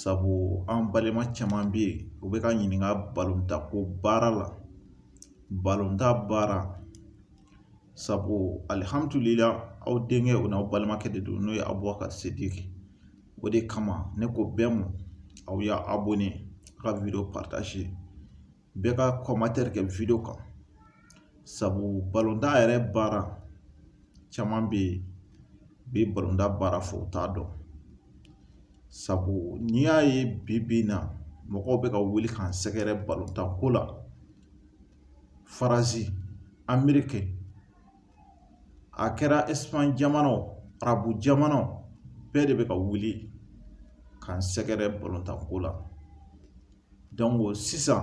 sabu an balima caman bɛ yen u bɛ ka ɲininka balontan ko baara la balontan baara sabu alihamudulila aw denkɛ o n'aw balimakɛ de don n'o ye Abubakari Sidiki o de kama ne ko bɛɛ ma aw ye abɔne a ka wideyo bɛɛ ka kɔmantɛri kɛ wideyo kan sabu balontan yɛrɛ baara caman bɛ yen bi balontan baara fɔ u t'a dɔn sabu n'i y'a ye bi bi in na mɔgɔw bɛ ka wuli k'an sɛgɛrɛ balontan ko la Faransi Ameriki a kɛra Ɛsipaɲi jamanaw arabu jamanaw bɛɛ de bɛ ka wuli ka n sɛgɛrɛ balontanko la dɔnki sisan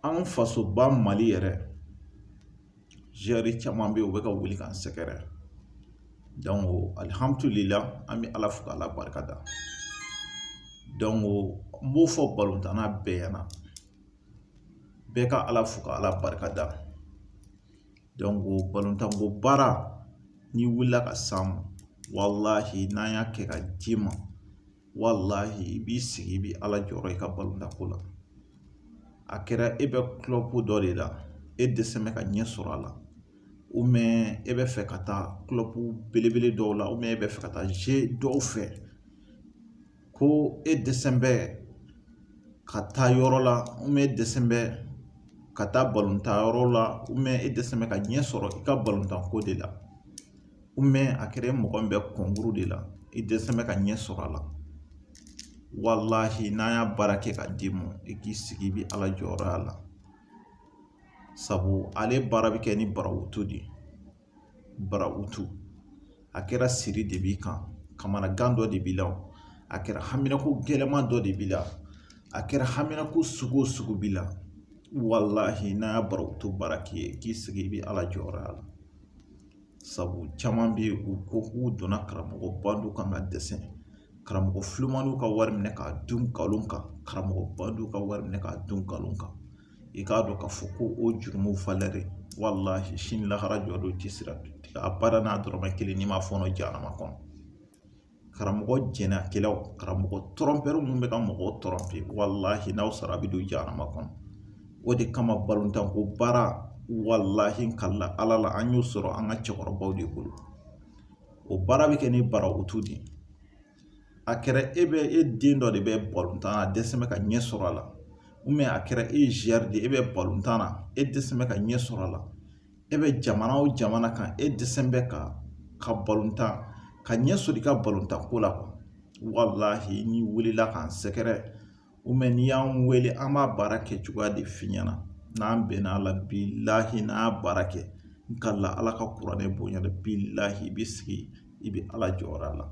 an fasoba mali yɛrɛ zuwɛri caman bɛ yen u bɛ ka wuli ka n sɛgɛrɛ dɔnki alihamudulila an bɛ ala fo k'ala barikada dɔnki n b'o fɔ balontanna bɛɛ ɲɛna bɛɛ ka Ala fo ka Ala barikada dɔnki balontanko baara n'i wulila ka s'an ma walahi n'an y'a kɛ ka d'i ma walahi i b'i sigi i bɛ Ala jɔyɔrɔ ye i ka balontanko la a kɛra e bɛ kulɔbu dɔ de la e dɛsɛ bɛ ka ɲɛ sɔrɔ a la ubiyɛn e bɛ fɛ ka taa kulɔbu belebele dɔw la ubiyɛn e bɛ fɛ ka taa ze dɔw fɛ ko e dɛsɛ bɛ ka taa yɔrɔ la ubiyɛn e dɛsɛ bɛ ka taa balontan yɔrɔ la ubiyɛn e dɛsɛ bɛ ka ɲɛ sɔrɔ i ka balontan ko de la ubiyɛn a kɛra e mɔgɔ min bɛ kɔnkuru de la i dɛsɛ bɛ ka ɲɛ sɔrɔ a la walahi n'an y'a baara kɛ ka d'i ma i k'i sigi i bɛ Ala jɔyɔrɔ y'a la sabu ale baara bɛ kɛ ni barawutu de ye barawutu a kɛra siri de b'i kan kamanagan dɔ de b'i la o a kɛra haminako gɛlɛman dɔ de b'i la a kɛra haminako sugu o sugu b'i la walahi n'an y'a barawutu baara k'i ye k'i sigi i bɛ ala jɔyɔrɔ la sabu caman bɛ yen u ko k'u donna karamɔgɔ bandiw kan ka dɛsɛ karamɔgɔ filanan ka wari minɛ k'a dun nkalon kan karamɔgɔ bandiw ka wari minɛ k'a dun nkalon kan i k'a dɔn k'a fɔ ko o jurumu valɛri walahi sini lahara jɔdon tɛ sira abada n'a dɔrɔmɛ kelen n'i ma fɔɔnɔ jahanama kɔnɔ karamɔgɔ jɛnɛkɛlaw karamɔgɔ tɔrɔnpɛri minnu bɛ ka mɔgɔw tɔrɔnpe walahi n'aw sara a bɛ don jahanama kɔnɔ o de kama balontan ko baara walahi kala ala la an y'o sɔrɔ an ka cɛkɔrɔbaw de bolo o baara bɛ kɛ ni barawutu de a kɛra e bɛ e den dɔ de bɛ balontan na a dɛsɛ bɛ ka ɲɛ sɔrɔ a la ou bien a kɛra e ye joueur de ye e bɛ balontan na e dɛsɛ bɛ ka ɲɛ sɔrɔ a la e bɛ jamana o jamana kan e dɛsɛ bɛ ka ka balontan ka ɲɛ sɔrɔ i ka balontanko la quoi walahi n'i wulila k'an sɛgɛrɛ n'i y'an wele an b'a baara kɛ cogoya de f'i ɲɛna n'an bɛnna a la bilaahi n'an y'a baara kɛ n kali Ala ka kuranɛ bonya la bilaahi i b'i sigi i bɛ Ala jɔyɔrɔ la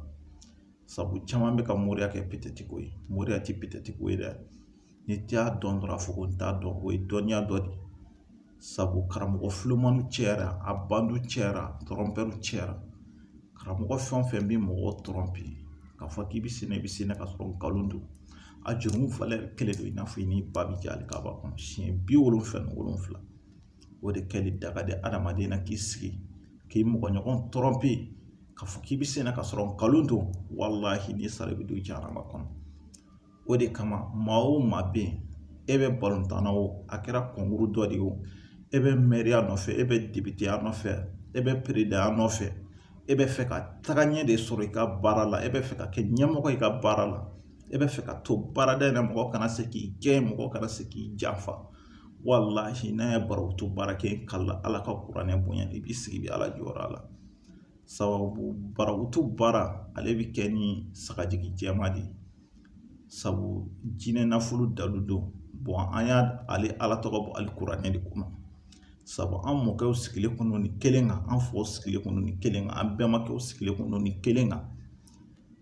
sabu caman bɛ ka moriya kɛ peut-être ko ye moriya tɛ peut-être ko ye dɛ n'i t'a dɔn dɔrɔn a fɔ ko n t'a dɔn o ye dɔnniya dɔ de ye sabu karamɔgɔ filumanw cɛyara a bandiw cɛyara trompeurs cɛyara karamɔgɔ fɛn o fɛn bɛ mɔgɔ tromper k'a fɔ k'i bɛ sen i bɛ sen ka sɔrɔ nkalon don a jurumu valeur kelen don i n'a fɔ i ni ba bɛ jɛ Alikaba kɔnɔ siɲɛ bi wolonwula ni wolonwula o de kɛli daga di adamaden na k'i sigi k'i mɔgɔ ɲɔgɔn tromper k'a fɔ k'i bɛ sen ka sɔrɔ nkalon don walahi n'i sara i bɛ don jahanama kɔnɔ o de kama maa o maa bɛ yen e bɛ balontan na o a kɛra concours dɔ de ye o e bɛ mɛriya nɔfɛ e bɛ depiteya nɔfɛ e bɛ peresidanya nɔfɛ e bɛ fɛ ka taga ɲɛ de sɔrɔ i ka baara la e bɛ fɛ ka kɛ ɲɛmɔgɔ i ka baara la e bɛ fɛ ka to baarada in na mɔgɔ kana se k'i gɛn mɔgɔ kana se k'i janfa walahi n'a ye barawutu baara kɛ ka ala ka kuranɛ bonya i b'i sigi i bɛ ala jɔyɔrɔ la sababu barawutu baara ale bɛ kɛ ni sagajigi jɛman de ye sabu jinɛ nafolo dalu don bon an y'a ale Ala tɔgɔ bɔ ale kuranɛ de kɔnɔ sabu an mɔkɛw sigilen kun don nin kelen kan an faw sigilen kun don nin kelen kan an bɛnbakɛw sigilen kun don nin kelen kan.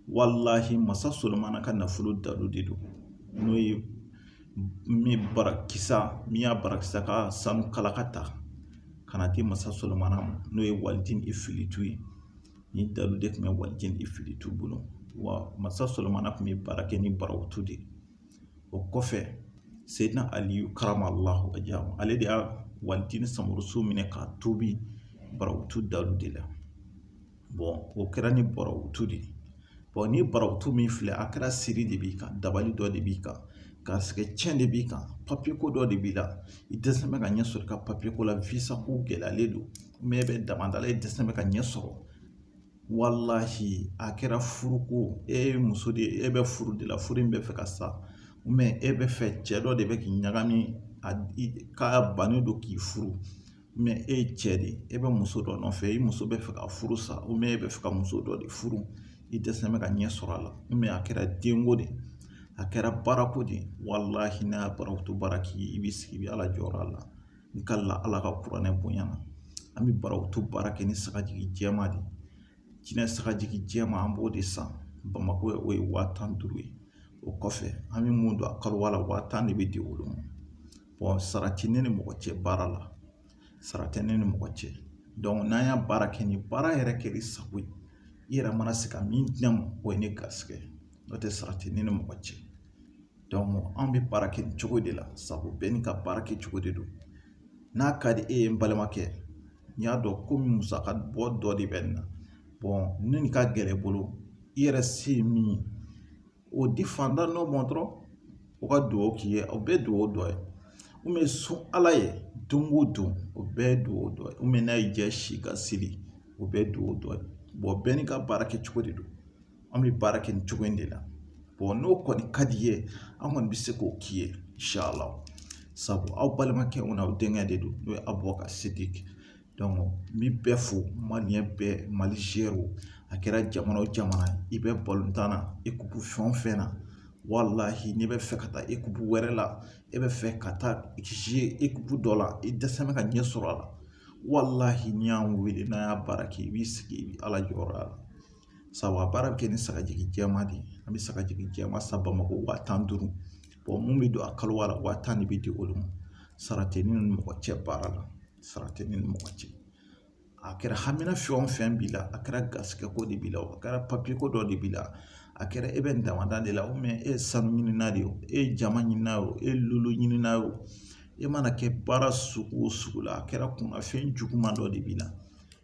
walahi masa Solomana ka nafolo dalu de don n'o ye min Barakisa min ye Barakisa ka sanu kalaka ta ka na di masa Solomana ma n'o ye waliden Efilitu ye nin dalu de tun bɛ waliden Efilitu bolo wa masa Solomana tun bɛ baara kɛ ni barawutu de ye o kɔfɛ Seyidina Aliyu karamalahu wajahu ale de y'a waliden Samurusu minɛ k'a tobi barawutu dalu de la o kɛra nin barawutu de ye nin barawutu min filɛ a kɛra siri de b'i kan dabali dɔ de b'i kan garisɛgɛ cɛn de b'i kan papiye ko dɔ de b'i la i dɛsɛ bɛ ka ɲɛ sɔrɔ i ka papiye ko la visa ko gɛlɛyalen don mais e bɛ damanda la i dɛsɛ bɛ ka ɲɛ sɔrɔ walahi a kɛra furuko e ye muso de ye e bɛ furu de la furu in bɛ fɛ ka sa mais e bɛ fɛ cɛ dɔ de bɛ k'i ɲagami k'a bannen don k'i furu mɛ e ye cɛ de ye e bɛ muso dɔ nɔfɛ i muso bɛ fɛ ka furu sa u mɛ e bɛ fɛ ka muso dɔ de furu i dɛsɛ bɛ ka ɲɛ sɔrɔ a la mɛ a kɛra denko de a kɛra baarako de walahi n'an y'a barato baara kɛ i b'i sigi i bɛ ala jɔyɔrɔ la n ka la ala ka kuranɛ bonya na an bɛ barato baara kɛ ni sagajigi jɛma de jinɛ sagajigi jɛma an b'o de san bamakɔ ye o ye waa tan duuru ye o kɔfɛ an bɛ mun don a kaluwa la waa tan de bɛ di olu ma sara tɛ ne ni mɔgɔ cɛ baara la sara tɛ ne ni mɔgɔ cɛ n'an y'a baara kɛ ni baara yɛrɛ kɛra i sago ye i yɛrɛ mana se ka min di ne ma o ye ne garisigɛ ye n'o tɛ sara tɛ ne ni mɔgɔ cɛ anw bɛ baara kɛ nin cogo de la sabu bɛɛ n'i ka baara kɛ cogo de don n'a ka di e ye n balimakɛ n y'a dɔn ko musaka bɔ dɔ de bɛ nin na ni nin ka gɛlɛn i bolo i yɛrɛ se ye min ye o di fantan dɔ ma dɔrɔn o ka dugawu k'i ye o bɛɛ ye dugawu dɔ ye mɛ sun ala ye don o don o bɛɛ ye dugawu dɔ ye mɛ n'a y'i diya si ka seli o bɛɛ ye dugawu dɔ ye bɔn bɛɛ n'i ka baara kɛ cogo de don an bɛ baara kɛ nin cogo in de la bɔn n'o kɔni ka d'i ye an kɔni bɛ se k'o k'i ye insala sabu aw balimakɛ an'aw denkɛ de don n'o ye abubakari sidi n bi bɛɛ fo maliyɛn bɛɛ mali zuwɛriw a kɛra jamana o jamana i bɛ balontan na ekupu fɛn o fɛn na walahi n'i bɛ fɛ ka taa ekupu wɛrɛ la e bɛ fɛ ka taa zuwe ekupu dɔ la i dɛsɛ bɛ ka ɲɛ sɔrɔ a la walahi n'i y'an wele n'an y'a baara kɛ i b'i sigi i bɛ ala jɔyɔrɔ la sabu a baara bɛ kɛ ni sagajigi jɛman de ye an bɛ sagajigi jɛman san bamakɔ waa tan ni duuru mun bɛ don a kaluwa la waa tan de bɛ di olu ma sara tɛ ne ni mɔgɔ cɛ baara la sara tɛ ne ni mɔgɔ cɛ a kɛra hamina fɛn o fɛn b'i la a kɛra garisɛgɛ ko de b'i la a kɛra papiye ko dɔ de b'i la a kɛra e bɛ nin damanda de la e ye sanu ɲinina de ye o e ye jama ɲinina ye o e ye lolo ɲinina ye o e mana kɛ baara sugu o sugu la a kɛra kunnafɛn juguman dɔ de b'i la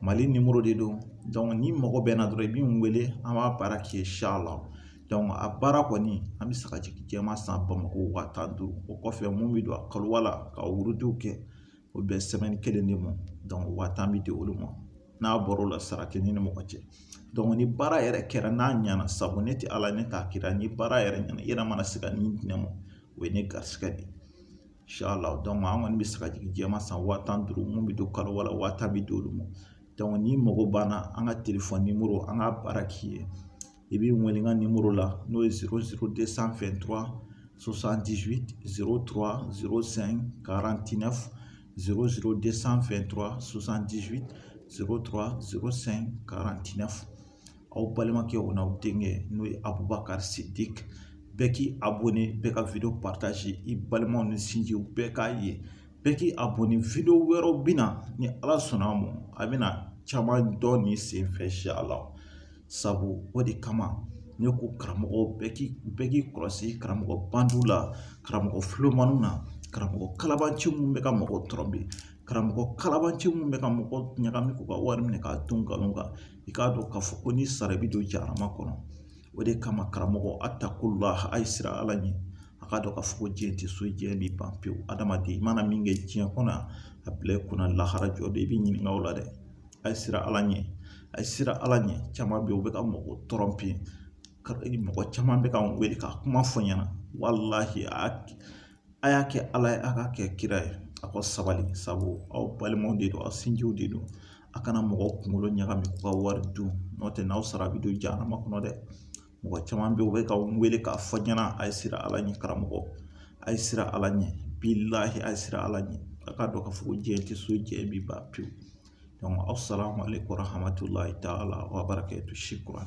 Mali numéro de don donc n'i mago bɛ n na dɔrɔn i bɛ n wele an b'a baara k'i ye inshallah donc a baara kɔni an bɛ sagajigi jɛman san Bamako wa tan ni duuru o kɔfɛ mun bɛ don a kaluwa la ka wurudiw kɛ o bɛ semaine kelen de ma donc wa tan bɛ di olu ma n'a bɔra o la sara tɛ ne ni mɔgɔ cɛ donc ni baara yɛrɛ kɛra n'a ɲɛna sabu ne tɛ Ala ye ne t'a kira ni baara yɛrɛ ɲɛna i yɛrɛ mana se ka min di ne ma o ye ne garisigɛ de ye an kɔni bɛ sagajigi jɛman san wa tan ni duuru mun bɛ don kaluwa la waa tan bɛ di olu ma n'i mago b'an na an ka telefɔni nimɔrɔ an ka baara k'i ye i bɛ n wele n ka nimɔrɔ la n'o ye sanfɛ aw balimakɛ o n'aw denkɛ n'o ye Abubakar Sidiki bɛɛ k'i abonné bɛɛ ka video partage i balimaw ni sinjiw bɛɛ k'a ye bɛɛ k'i abonné video wɛrɛw bɛ na ni Ala sɔnna a ma a bɛna caman dɔn nin senfɛ inshallah sabu o de kama ne ko karamɔgɔ bɛɛ k'i bɛɛ k'i kɔlɔsi karamɔgɔ bandiw la karamɔgɔ filomaniw na karamɔgɔ kalabanci minnu bɛ ka mɔgɔw tɔɔrɔ bi karamɔgɔ kalabanci minnu bɛ ka mɔgɔw ɲagami k'u ka wari minɛ k'a dun nkalon kan i k'a dɔn k'a fɔ ko n'i sara i bɛ don jahanama kɔnɔ o de kama karamɔgɔ attaqullah a ye siran Ala ɲɛ a k'a dɔn k'a fɔ ko diɲɛ tɛ so diɲɛ bɛ ban pewu adamaden i mana min kɛ diɲɛ kɔnɔ a bila i kunna lahara jɔ don i bɛ ɲininka o la dɛ a ye siran Ala ɲɛ a ye siran Ala ɲɛ caman bɛ yen u bɛ ka mɔgɔ tɔɔrɔ bi mɔgɔ caman bɛ ka n wele ka kuma fɔ n ɲɛna walahi a a y'a kɛ Ala ye a k'a kɛ kira ye a ka sabali sabu aw balimaw de don aw sinjiw de don a kana mɔgɔw kunkolo ɲagami k'u ka wari dun n'o tɛ n'aw sara a bɛ don jahanama kɔnɔ dɛ mɔgɔ caman bɛ yen u bɛ ka n wele k'a fɔ n ɲɛna a ye siran Ala ɲɛ karamɔgɔ a ye siran Ala ɲɛ bilaahi a ye siran Ala ɲɛ a k'a dɔn k'a fɔ ko diɲɛ tɛ so diɲɛ bɛ ban pewu aw salamu aleyikumu warahamatulahi taala wabarakɛtu shukran.